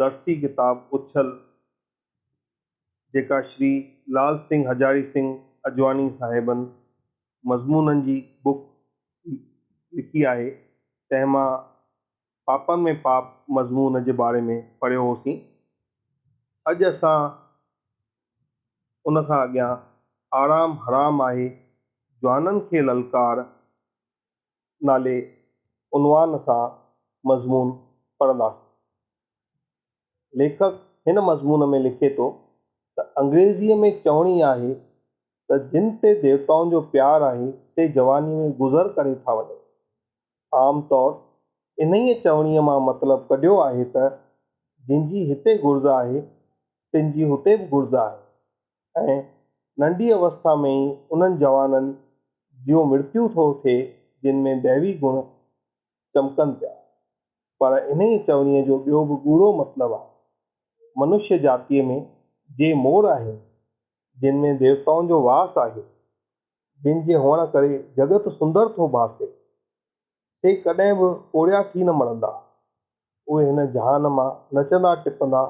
درسي ڪتاب اڇل جيڪا شري لال سنگهه هجاري سنگهه اجواني صاحبن مضمونن جي بوڪ لکي آهي تنهن مان پاپن ۾ پاپ مضمون جي باري ۾ پڙهيو هوسين. اڄ اسان ان کان اڳيان آرام حرام آهي جوانن کي للڪار نالي عنوان سان مضمون پڙهنداسين. ليکڪ هن مضمون ۾ لکي ٿو ته انگريزيء ۾ چوڻي آهي ته جن تي ديوتائن جو پيار آهي سي جوانيء ۾ گذر ڪري ٿا وڃن. عام طور انهيء چوڻيء مان مطلب ڪڍيو آهي ته جن جي هتي گهرج آهي تن جي هتي به گهرج آهي. ۽ ننڍي اوستا ۾ ئي انهن جوانن جيون مرتيون ٿو ٿئي جن ۾ ديوي گڻ چمڪن پيا. پر انهيء چوڻيء جو ٻيو به ڳوڙهو مطلب آهي. منشيه جاتيء ۾ جي مور آهن، جن ۾ ديوتائن جو واس آهي، جن جي هئڻ ڪري جڳت سندر ٿو ڀاسي، سي ڪڏهن به پوڙهيا ٿي نه مڙندا. اهي هن جهان مان نچندا ٽپندا،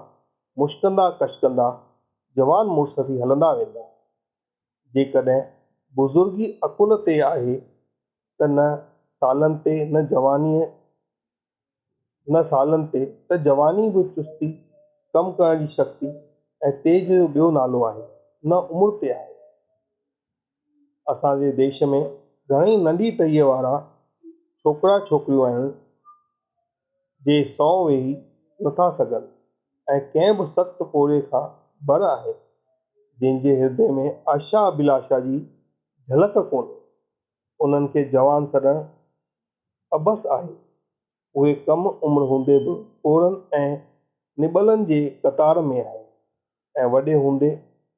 مشڪندا ڪشڪندا، جوان مڙس ٿي هلندا ويندا. جيڪڏهن بزرگي عقل تي آهي ته نه سالن تي نه جوانيء هن سالن تي ته جواني به چستي، ڪم ڪرڻ جي شڪتي ۽ تيز جو ٻيو نالو آهي، نه عمر تي آهي. اسان جي ديش ۾ گهڻئي ننڍي ٽهيء وارا ڇوڪرا ڇوڪريون آهن، جي سنئون ويهي نٿا سگهن ۽ ڪنهن به سخت پورهيي کان بر آهن، جن جي هردي ۾ آشا ابهلاشا جي جهلڪ ڪونهي، انهن کي جوان سڏڻ عبث آهي. اهي ڪم عمر هوندي به پوڙهن ۽ نٻلن جي قطار ۾ آهي ۽ وڏي هوندي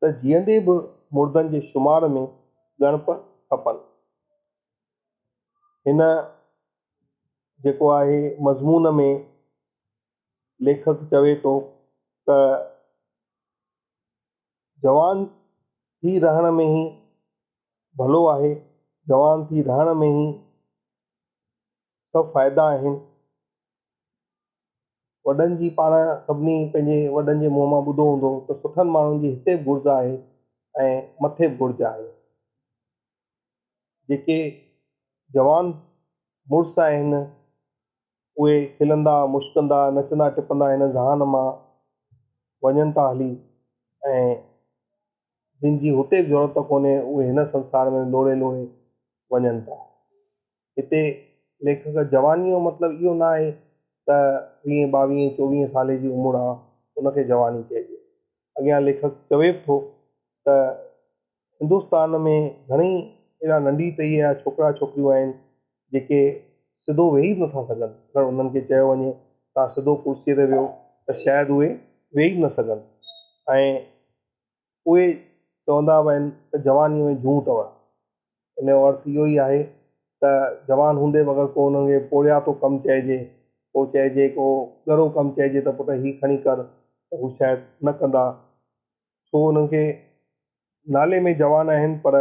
ته جيئندي به مردن جي شمار ۾ ڳڻپ کپن. هن جيڪو آهي مضمون ۾ ليکڪ چوي ٿو ته. جوان ٿي رهڻ ۾ ئي ڀلو آهي، جوان ٿي رهڻ ۾ ئي سڀ فائدا آهن. وڏن جي پاڻ سڀني پنهنجي وڏن جي منهن مان ٻڌو هوندو ته سٺن ماڻهن جي هتي به گهرج آهي ۽ مٿي به گهرج آهي. جيڪي جوان مڙس آهن، اهي کلندا، مشڪندا، نچندا ٽپندا هن ذهان مان وڃن ٿا هلي ۽ جن جي هتي به ضرورت ڪونهي، اهي هن سنسار ۾ لوڙهي لوڙهي وڃن ٿا. هتي ليکڪ جوانيء جو مطلب اهو نه آهي ته ويهين، ٻاويهين، چوويهين سالي جي عمر آ، ان کي جواني چئجي. اڳيان ليکڪ چوي به ٿو ته. هندستان ۾ گهڻي اهڙا ننڍي ٽهيء جا ڇوڪرا ڇوڪريون آهن، جيڪي سڌو ويهي به نٿا سگهن، اگر انهن کي چيو وڃي ته سڌو ڪرسيء تي ويهو ته شايد اهي ويهي به نه سگهن ۽ اهي چوندا به آهن ته جوانيء ۾ جون اٿئو. ان جو ارٿ اهو ئي آهي ته جوان هوندي به اگر ڪو انهن کي پورهياتو ڪم چئجي، ڪو چئجي ڪو ڳرو ڪم چئجي ته پٽ هي کڻي ڪر ته هو شايد نه ڪندا. سو انهن کي نالي ۾ جوان آهن پر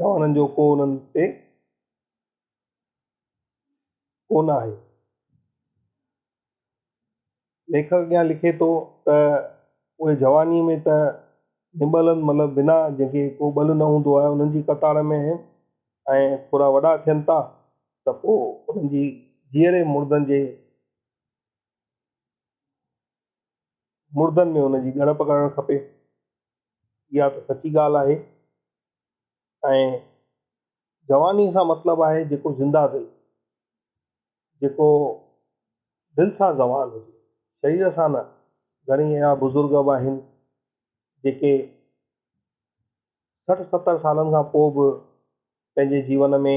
جوانن جو ڪو انهن تي ڪونه آهي. ليکڪ اڳيان لکي ٿو ته اهي جوانيء ۾ ته نٻلن مطلب بنا جنهن کي ڪو ٻل نه هوندو آهي انهن جي قطار ۾ آهن ۽ ٿورا وڏا ٿين ٿا ته پوء انهن جي جيئري مردن جي مردن ۾ ان جي ڳڻپ ڪرڻ کپي. اها ته سچي ڳالهه آهي ۽ جواني سان مطلب آهي جيڪو زنده دل، جيڪو دل سان جوان هجي، شرير سان نه. گهڻي اهڙا بزرگ به آهن جيڪي سٺ ستر سالن کان پوء به پنهنجي جيون ۾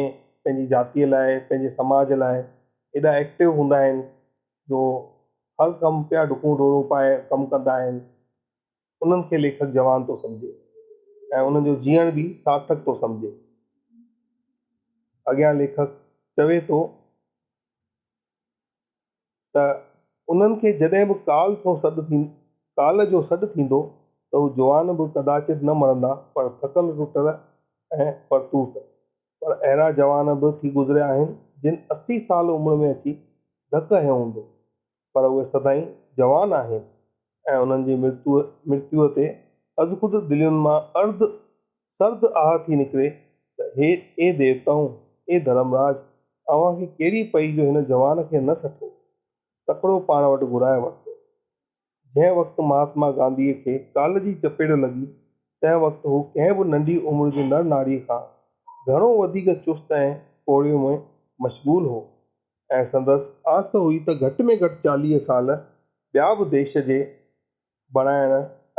پنهنجي جاتيء لاء پنهنجي سماج لاء ايڏا ايڪٽو هوندا آهن جو هر ڪم پيا ڊڪون ڊوڙون پائي ڪم ڪندا آهن انهن کي ليکڪ جوان ٿو سمجهي ۽ انهن جو جيئڻ به سارٿڪ ٿو سمجهي اڳيان ليکڪ چوي ٿو. ته انهن کي جڏهن به ڪال سو سڏ ٿي ڪال جو سڏ ٿيندو ته هو جوان به ڪداچت نه مرندا پر ٿڪل ٽٽل ۽ پرتوت پر اهڙا جوان به ٿي گذريا آهن جن اسي سال عمر ۾ اچي ڌڪ هنيو هوندو پر اهي سدائين جوان آهن. ۽ انهن جي مرتيوء تي ازخود دلين مان ارد سرد آهه ٿي نڪري ته هي اي ديوتائون، اي ڌرم راج، اوهان کي ڪهڙي پئي جو هن جوان کي نه سٺو، تڪڙو پاڻ وٽ گهرائي ورتو. جنهن وقت مهاتما گانڌيء کي ڪال جي چپيڙ لڳي، تنهن وقت هو ڪنهن به ننڍي عمر جي نر ناريء کان گهڻو وڌيڪ چست ۽ پوڙهي ۾ مشغول هو. ۽ سندس آس هئي ته گهٽ ۾ گهٽ چاليهه سال ٻيا به ديش جي بڻائڻ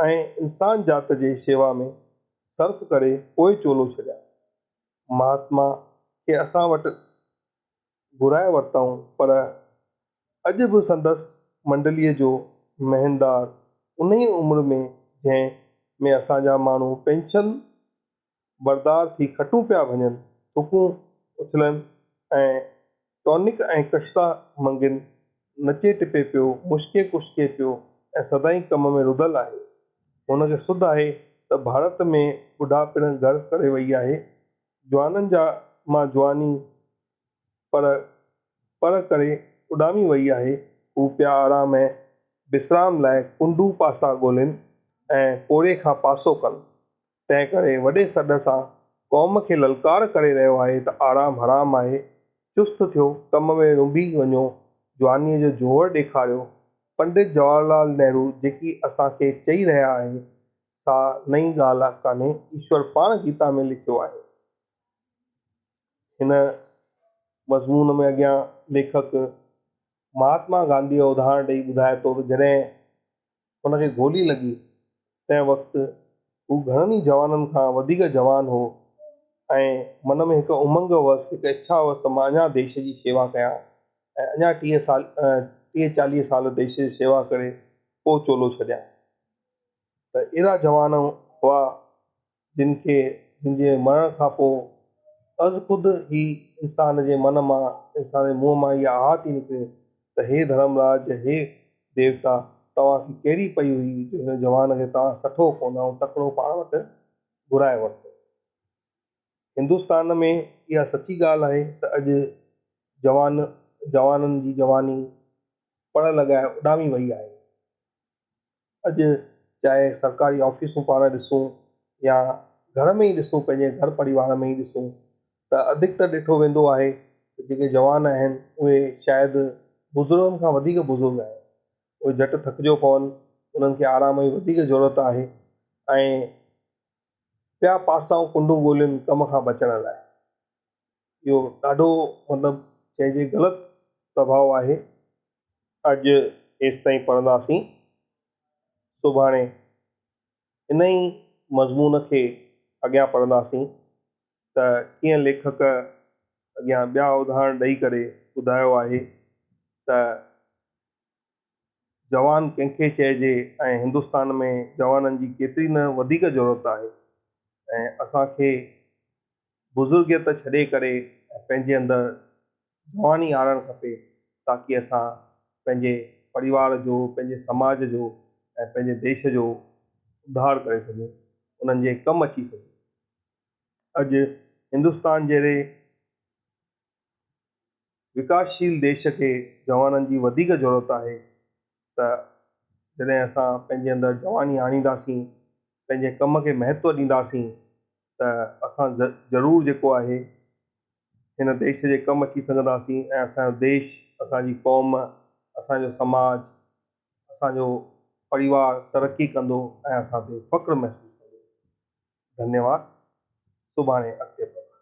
۽ انسان ذات جي شيوا ۾ صرف ڪري پوء چولو ڇڏيان. مهاتما کي اسان وٽ گهرائي ورتائون پر اڄ به سندس منڊليء جو مهندار انهيء عمر ۾ جنهن ۾ اسان جا ماڻهو پينشن بردار ٿي کٽون پيا ڀڃن، ٿڪون اڇلن ۽ ٽونڪ ۽ ڪشتا منگين نچي ٽپي پيو، مشڪي ڪشڪي پيو ۽ سدائين ڪم ۾ رڌل آهي. هن کي سڌ آهي ته ڀارت ۾ ٻڍا پڻ گهر ڪري وئي آهي، جوانن جا مان جواني پر پر ڪري اڏامي وئي آهي، هو پيا آرام ۽ وسرام لاء ڪنڊو پاسا ڳولين ۽ پوڙهي کان پاسو ڪن. تنهن ڪري وڏي سڏ سان قوم کي للڪار ڪري رهيو آهي ته آرام حرام آهي، چست ٿيو، ڪم ۾ رنڀي وڃو، جوانيء جو جوهر ڏيکاريو. پنڊت جواهر لال نهرو جيڪي اسان کي چئي رهيا آهي، سا نئين ڳالهه ڪانهي، ايشور پاڻ گيتا ۾ لکيو آهي. هن مضمون ۾ اڳيان ليکڪ مهاتما گانڌيء جو اداهرڻ ڏئي ٻڌائي ٿو ته جڏهن هن کي گولي لڳي، تنهن وقت هو گهڻن ئي جوانن کان وڌيڪ جوان هو ۽ من ۾ هڪ امنگ هئس، هڪ اڇا هئس ته مان اڃا ديش جي شيوا ڪيان ۽ اڃا ٽيهه سال ٽيهه چاليهه سال ديش جي شيوا ڪري پوء چولو ڇڏيان ته اهڙا جوان هئا، جن کي جن جي مرڻ کان پوء از خود ئي انسان جي من مان انسان جي منهن مان اها آهه ٿي نڪري ته هي ڌرمراج هي ديوتا توهان کي ڪهڙي پئي هئي جو هن جوان کي توهان سٺو ڪونه ۽ تڪڙو پاڻ وٽ گهرائي ورتو. هندستان ۾ اها سچي ڳالهه آهي ته اڄ جوان جوانن جي جواني پڙ لڳائي اڏامي وئي آهي. اڄ چاهي سرڪاري آفيسون پاڻ ڏسون يا گهر ۾ ئي ڏسون پنهنجي گهر پريوار ۾ ئي ڏسون ته اڌڪتر ڏٺو ويندو آهي ته جيڪي جوان آهن اهي شايد بزرگن کان وڌيڪ بزرگ آهن اهي جهٽ ٿڪجو پون انهن کي آرام جي وڌيڪ ضرورت آهي ۽ ٻيا پاسائون ڪنڊون ڳولين ڪم کان بچڻ لاء اهو ڏاڍو مطلب چئجي غلط پرڀاء آهي. اڄ ايستائين پڙهنداسين. سڀاڻي انهي مضمون کي اڳيان پڙهنداسين ته ڪيئن ليکڪ اڳيان ٻيا اڌاهرڻ ڏئي ڪري ٻڌايو آهي ته. جوان ڪنهن کي چئجي ۽ هندستان ۾ جوانن جي ڪيتري نه وڌيڪ ضرورت آهي ۽ اسان کي بزرگيت ڇڏي ڪري ۽ پنهنجي اندر جواني آڻڻ کپي تاڪي اسان پنهنجي پريوار جو، پنهنجي سماج جو ۽ پنهنجي ديش جو اڌار ڪري سگهون، انهن جي ڪم اچي سگهون. اڄ هندستان جهڙي وڪاسشيل ديش کي جوانن جي وڌيڪ ضرورت آهي ته جڏهن اسان پنهنجي اندر جواني آڻينداسين، پنهنجي ڪم کي مهتو ڏينداسين ته اسان ضرور جيڪو آهي هن ديش جي ڪم اچي سگهنداسين ۽ اسان جو ديش، اسان جي قوم، اسان جو سماج، اسان جو پريوار ترقي ڪندو ۽ اسان تي فخر محسوس ڪندو. ڌنيواد. سڀاڻي اڳتي پڙهنداسين.